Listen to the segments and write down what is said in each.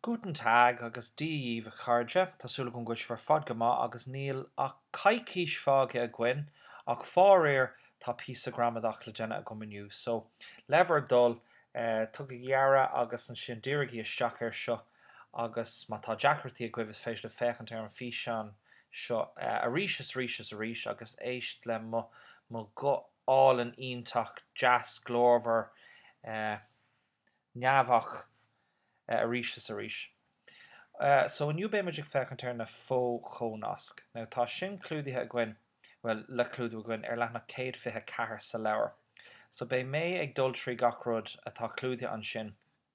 Guten Tag agus Dia dhíbh a chairde, tá súil agam go bhfuil sibh ar fad go maith agus níl ach coicís fágtha againn ach faraoir tá píosa gramadach le déanamh agam inniu so le bhur dtoil tugaigí aire agus ansin dírigí isteach air seo agus má tá deacrachtaí agaibh is féidir libh féachaint ar an bhfíseán seo arís is arís is arís agus éist le mo guth álainn iontach, deas, glórmhar, neamhach arís is arís. So inniu beimid ag féachaint ar na fo-chónasc. Now tá sin clúdaithe againn, bhuel, le clúdú againn, ar leathanach 124 sa leabhar. So beidh mé ag dul trí gach rud atá clúdaithe ansin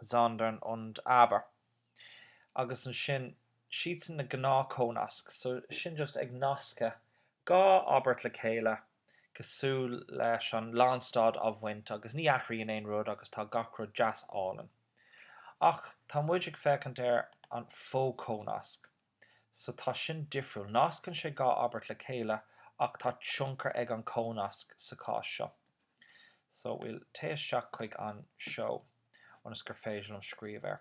sondern und aber agus ansin siadsan na gnáthchónasc so sin just ag nascadh dhá abairt le chéile cosúil leis an lánstad a bhaint agus ní athraíonn aon rud agus tá gach rud deas álainn. Ach tá muid ag féachaint ar an fho-chónasc. so tá sin difriúil. Nascann sé dhá abairt le chéile ach tá tionchar ag an cónasc sa chás seo. So we'll téigh isteach chuig an seó ionas gur féidir liom scríobh air.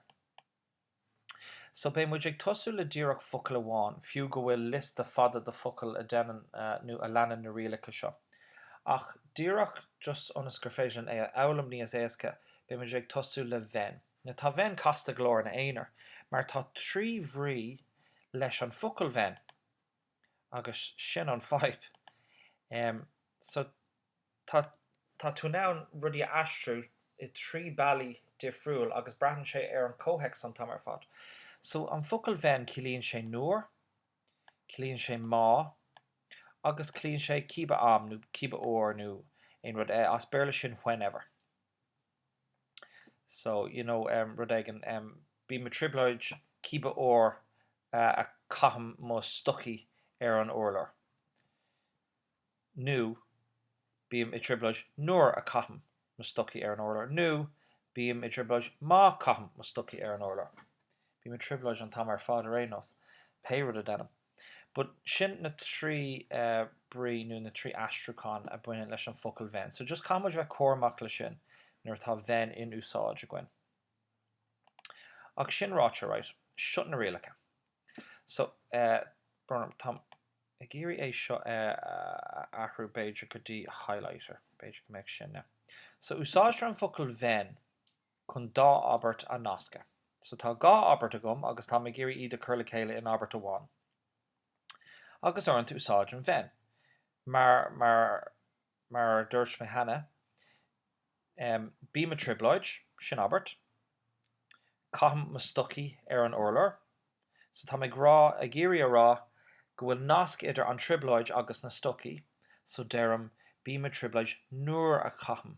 So beidh muid ag tosú le díreach focal amháin, fiú go bhfuil liosta fada de focail a deineann nó a leanann na rialacha seo. Ach díreach just ionas gur féidir linn é a fhoghlaim níos éasca, beidh muid ag tosú le wenn. Now tá wenn casta go leor ina aonar mar tá trí bhrí leis an focal wenn agus sin an fhadhb. Em so tá tá tú in ann rudaí a aistriú i trí bealaí difriúil agus braitheann sé ar an comhthéacs an t-am ar fad. So an focal wenn ciallaíonn sé nuair, ciallaíonn sé má agus ciallaíonn sé cibé am nó cibé uair nó aon rud. As Béarla sin whenever. so, you know, em, rud éigin, em, bím i dtrioblóid cibé uair a chaithim mo stocaí ar an urlár, nó bím i dtrioblóid nuair a chaithim mo stocaí ar an urlár, nó bím i dtrioblóid má chaithim mo stocaí ar an urlár. Bím i dtrioblóid an t-am ar fad ar aon nós, pé rud a deinim. But sin na trí brí nó na trí aistriúchán a bhaineann leis an focal wenn. So just caithfidh muid bheith cúramach le sin nuair atá wenn in úsáid againn. Ach sin ráite, right, seo na rialacha. So, uh, táim ag iarraidh é seo a uh, athrú b'fhéidir go dtí highlighter, b'fhéidir go mbeidh sin na. So úsáidtear an focal wenn chun dá abairt a nascadh. So tá dhá abairt agam agus táim ag iarraidh iad a chur le chéile in abairt amháin. Agus uaireanta úsáidim wenn. Mar, mar, mar a dúirt mé cheana, em, bím i trioblóid, sin abairt. Caithim mo stocaí ar an urlár. So táim ag rá, ag iarraidh a rá go bhfuil nasc idir an trioblóid agus na stocaí, so deirim bím i trioblóid nuair a chaithim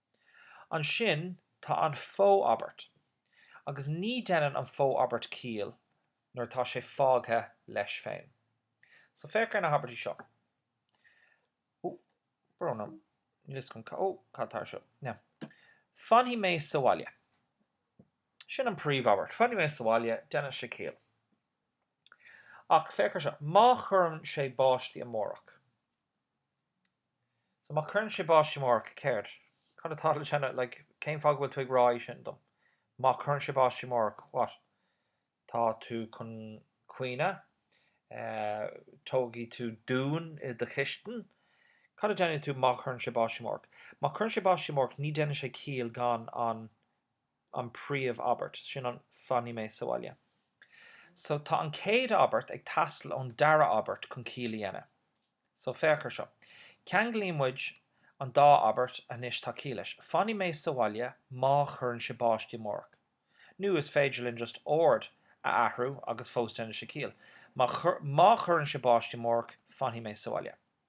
Ansin tá an fó-abairt, agus ní deineann an fó-abairt ciall nuair atá sé fágtha leis féin. So féach ar na habairtí seo. Fanfaidh mé sa bhaile. Sin an príomh-abairt. Fanfaidh mé sa bhaile, deineann sé ciall. Ach féach ar seo, má chuireann sé báistí amárach. So má cuireann sé báistí amárach, céard? Cad atá le déanamh? Like, cén fáth go bhfuil tú ag rá é sin dom? Má cuireann sé báistí amárach, what? Tá tú chun caoineadh? Eh, tógfaidh tú dún i do chistin? Cad a déanfaidh tú má chuireann sé báistí amárach? Má cuireann sé báistí amárach, ní déanfaidh sé ciall gan an, an príomh abairt. Sin an fanfaidh mé sa bhaile. So tá an chéad abairt ag teastáil ón dara abairt chun ciall a dhéanamh. So féach ar seo. Ceanglaíonn muid an dá abairt anois tá ciall leis. Fanfaidh mé sa bhaile má chuireann sé báistí amárach. Nó is féidir linn just ord a athrú agus fós déanfaidh sé ciall. Má chuireann sé báistí amárach fanfaidh mé sa bhaile.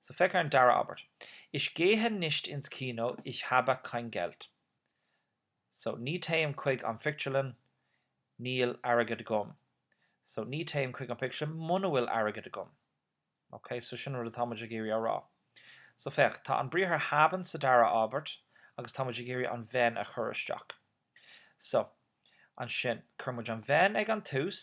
So féach ar an dara abairt. Ich gehe nicht ins Kino, ich habe kein Geld. So ní théim chuig an phictiúrlann, níl airgead agam. So ní théim chuig an phictiúrlann muna bhfuil airgead agam. Ok, so sin an rud atá muid ag iarraidh a rá. So féach, tá an briathar haben sa dara abairt agus tá muid ag iarraidh an wenn a chur isteach. So, ansin, chuir muid an wenn ag an tús,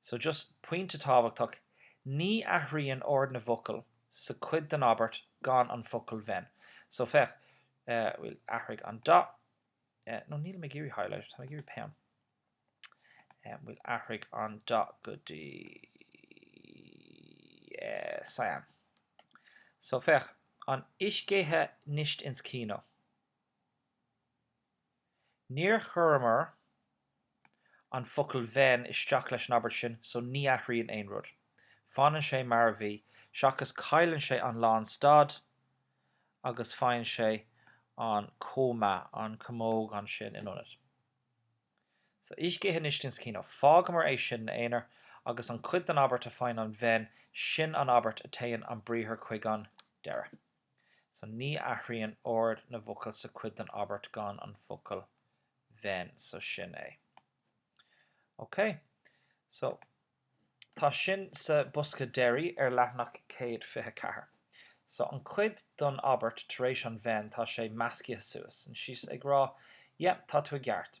So, just pointe tábhachtach, ní athraíonn ord na bhfocal sa cuid den abairt gan an focal wenn. So, féach, bhfuil, athraigh an dath, nó nílim ag iarraidh highlighter, táim ag iarraidh peann. Bhuel, athraigh an dath go dtí cyan. So, féach, an ich gehe nicht ins Kino. Níor chuireamar an focal 'wenn' isteach leis an abairt sin so ní athraíonn aon rud. Fanann sé mar a bhí, seachas cailleann sé an lánstad agus faigheann sé an comma, an camóg ansin in ionad. So ich gehe nicht ins Kino. Fágamar é sin ina aonar agus an chuid den abairt a faigheann an 'wenn' sin an abairt a téann an briathar chuig an deireadh. So ní athraíonn ord na bhfocal sa cuid den abairt gan an focal wenn. So sin é. OK. So tá sin sa bosca deiridh ar leathanach 124. So an cuid don abairt tar éis an wenn, tá sé meascaithe suas. And she's ag rá, yep, tá tú i gceart.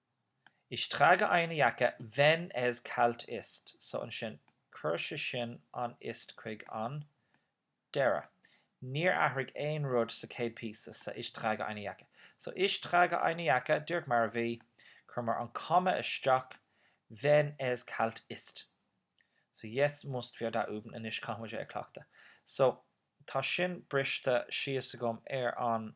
Ich trage eine Jacke wenn es kalt ist, so ansin cuir sé sin an ist chuig an deireadh. Níor athraigh aon rud sa chéad píosa, sa ich trage eine Jacke. So ich trage eine Jacke, díreach mar a bhí, cuireamar an comma isteach, wenn es kalt ist. So jetzt musst wir da üben, anois caithfimid é a chleachtadh. So tá sin briste síos agam ar an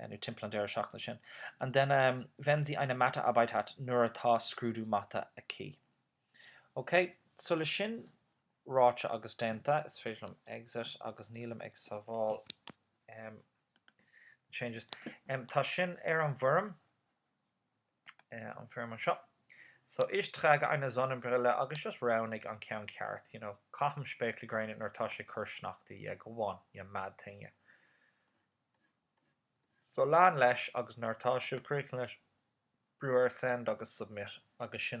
nó timpeall an deireadh seachtaine sin, and then wenn sie eine Mathearbeit hat, nuair atá scrúdú mata aici. OK, so le sin ráite agus déanta, is féidir liom exit agus nílim ag sábháil um, changes. Um, tá sin ar an bhfoirm. an foirm anseo. So ich trage eine Sonnenbrille agus just roghnaigh an ceann ceart, you know, caithim spéaclaí gréine nuair atá sé cur sneachta, yeah, go on, you mad thing, you. So lean leis agus nuair atá sibh críochnaithe, brúigh ar send agus submit agus sin an.